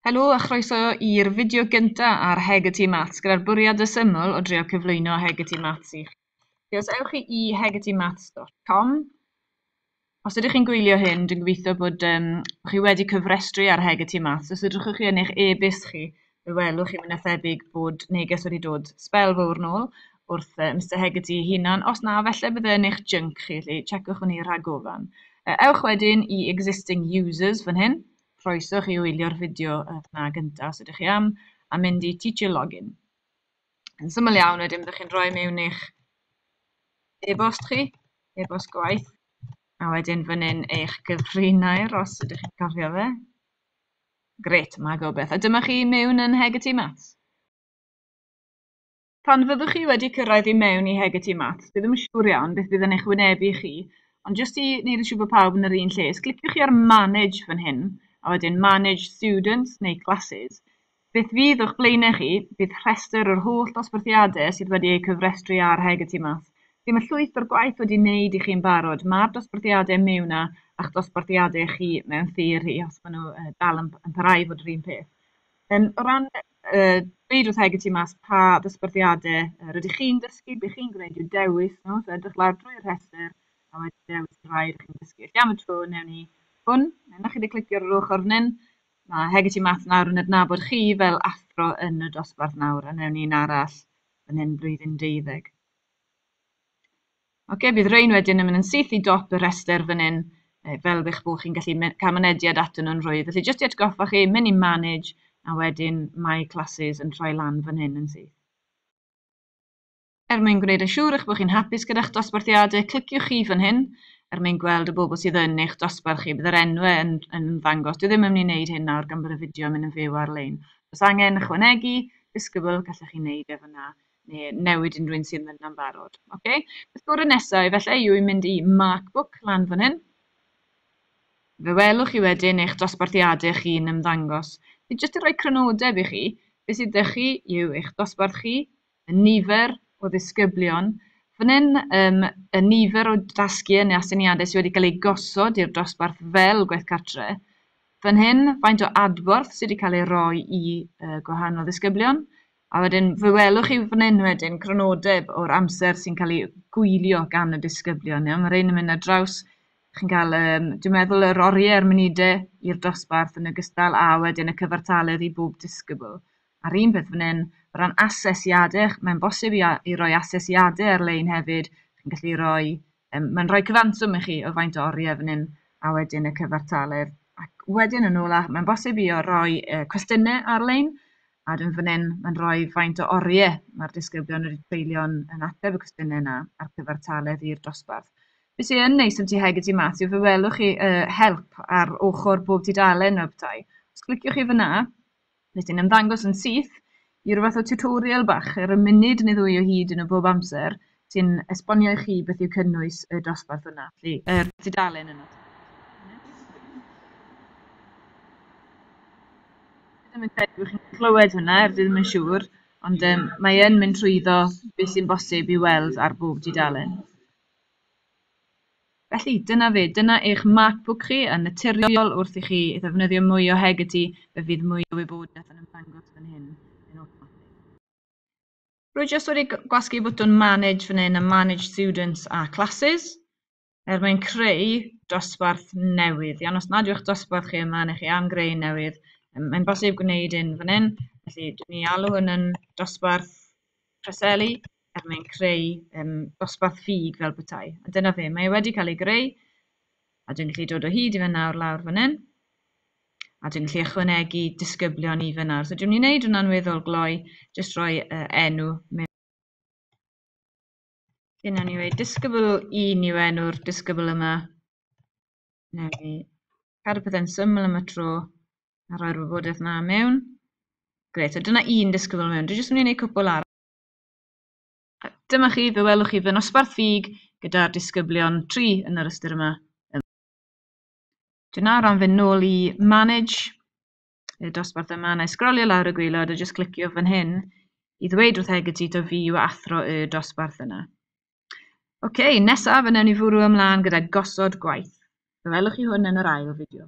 Helo a chroeso i'r fideo gynta ar Heg y Tŷ Maths gyda'r bwriad y syml o drio cyflwyno Heg y Tŷ Maths i chi. Felly os ewch chi i hegetymaths.com, os ydych chi'n gwylio hyn, dwi'n gobeithio bod um, chi wedi cyfrestru ar Heg y Tŷ Maths. Os ydych chi yn eich e-byst chi, Fe welwch chi, mwy na thebyg, bod neges wedi dod sbel fawr nôl wrth uh, Mister Hegarty ei hunan. Os na, felly bydd yn eich junk chi, felly checwch hwnni rhagofan. Uh, ewch wedyn i existing users fan hyn. Croeswch i wylio'r fideo uh, na gyntaf, os ydych chi am, a mynd i teacher login. Yn syml iawn, wedyn byddwch chi'n rhoi mewn eich e-bost chi, e-bost gwaith, a wedyn fan hyn eich gyfrinair, os ydych chi'n cofio fe. Grêt, mae gobeith. A dyma chi i mewn yn Nheg y Tŷ Maths. Pan fyddwch chi wedi cyrraedd i mewn i Heg y Tŷ Maths, dwi ddim yn siŵr iawn beth fydd yn eich wynebu chi, ond jyst i wneud yn siŵr bod pawb yn yr un lle, os cliciwch chi ar Manage fan hyn, a wedyn Manage Students neu Classes, beth fydd o'ch blaenau chi, bydd rhestr yr holl ddosbarthiadau sydd wedi eu cofrestru ar Heg y Tŷ Maths, Be mae llwyth o'r gwaith wedi wneud i chi yn barod? Mae'r dosbarthiadau mewn a, a'ch dosbarthiadau chi mewn theori, os maen nhw uh, dal yn, yn parhau i fod yr un peth. Um, o ran uh, dweud wrth Hegi tu mas pa ddosbarthiadau uh, rydych chi'n dysgu, be chi'n gwneud yw dewis nhw, so edrych lawr drwy'r rhestr a wedi dewis y rhai rydych chi'n dysgu. Felly am y tro, newn ni hwn, newn chi wedi clicio ar yr ochr fan hyn, mae Hegi tu mas nawr yn adnabod chi fel athro yn y dosbarth nawr, a newn ni'n arall yn hyn blwyddyn deuddeg. Oce, bydd rhain wedyn yn mynd yn syth i dop y rhestr fan hyn, eh, fel bych bod chi'n gallu cael mynediad atyn nhw'n rhwydd. Felly, jyst i atgoffa chi, mynd i Manage, a wedyn mae Classes yn troi lan fan hyn yn syth. Er mwyn gwneud yn siŵr eich bod chi'n hapus gyda'ch dosbarthiadau, cliciwch chi fan hyn, er mwyn gweld y bobl sydd yn eich dosbarth chi. Bydd yr enwau yn, yn ymddangos. Dwi ddim yn mynd i wneud hyn nawr gan bod y fideo yn mynd yn fyw ar-lein. Os angen ychwanegu, disgybl, gallech chi wneud e fyna. neu newid unrhyw un sydd yna'n barod. Okay. Beth gorau nesaf efallai yw i mynd i Markbook lan fan hyn. Fe welwch chi wedyn eich dosbarthiadau chi'n ymddangos. Fi jyst yn rhoi crynodeb i chi, beth sydd ydych chi yw eich dosbarth chi, y nifer o ddisgyblion, fan hyn um, y nifer o dasgiau neu asyniadau sydd wedi cael eu gosod i'r dosbarth fel gwaith cartre, fan hyn faint o adborth sydd wedi cael ei roi i uh, gwahanol ddisgyblion, A wedyn fe welwch chi fan hyn wedyn crynodeb o'r amser sy'n cael ei gwylio gan y disgyblion. Iawn? Mae rhain yn mynd ar draws, chi'n cael, um, dwi'n meddwl, yr oriau a'r munudau i'r dosbarth yn ogystal a wedyn y cyfartaledd i bob disgybl. A'r un peth fan hyn, o ran asesiadau, mae'n bosib i, i roi asesiadau ar-lein hefyd, chi'n gallu rhoi Um, mae'n rhoi cyfanswm i chi o faint o oriau fan hyn a wedyn y cyfartaledd. Ac wedyn yn ôl, mae'n bosib i o roi uh, cwestiynau ar-lein A dwi'n fan hyn, mae'n rhoi faint o oriau mae'r disgyblion wedi treulio'n yn ateb y cwestiynau yna a'r cyfartaledd i'r dosbarth. Be sy'n yn neis am ti heg y tu mas yw fe welwch chi uh, help ar ochr bob tudalen o'r bethau. Os cliciwch chi fyna, fe sy'n ymddangos yn syth i rhywbeth o tutorial bach ar y munud neu ddwy o hyd yn y bob amser, sy'n esbonio i chi beth yw cynnwys y dosbarth yna, felly yr tudalen yna. Dwi ddim yn credu bod chi'n clywed hwnna, er dwi ddim yn siŵr, ond um, mae yn mynd trwyddo beth sy'n bosib i weld ar bob tudalen. Felly, dyna fe, dyna eich MacBook chi, a naturiol wrth i chi ddefnyddio mwy o Heggerty, fe fydd mwy o wybodaeth yn ymddangos fan hyn yn awtomatig. Rwy jyst wedi gwasgu bwtwn manage fan hyn a manage students a classes er mwyn creu dosbarth newydd. Iawn, os nad yw'ch dosbarth chi yma neu chi am greu newydd, mae'n bosib gwneud un fan hyn. Felly, dwi'n ni alw hwn yn dosbarth preseli er mwyn creu um, dosbarth ffug fel bethau. A dyna fe, mae e wedi cael ei greu a dwi'n gallu dod o hyd i fe nawr lawr fan hyn. a dwi'n gallu ychwanegu disgyblion i fyna. So dwi'n mynd i wneud hwnna'n weddol gloi, jyst rhoi uh, enw mewn. Dyna ni wedi disgybl i ni enw'r disgybl yma. Neu i cadw pethau'n syml am y tro a rhoi'r wybodaeth yna mewn. Gret, so dyna un disgybl mewn. Dwi'n jyst mynd i wneud cwpl ar. Dyma chi, fe welwch chi fy nosbarth ffug gyda'r disgyblion tri yn yr ystyr yma. Dwi'n nawr am fynd nôl i Manage, y dosbarth yma, na i sgrolio lawr y gwaelod a jyst clicio fan hyn i ddweud wrth Egidito fi yw athro y dosbarth yna. Oce, okay, nesaf yn ni fwrw ymlaen gyda gosod gwaith. Fe welwch chi hwn yn yr ail fideo.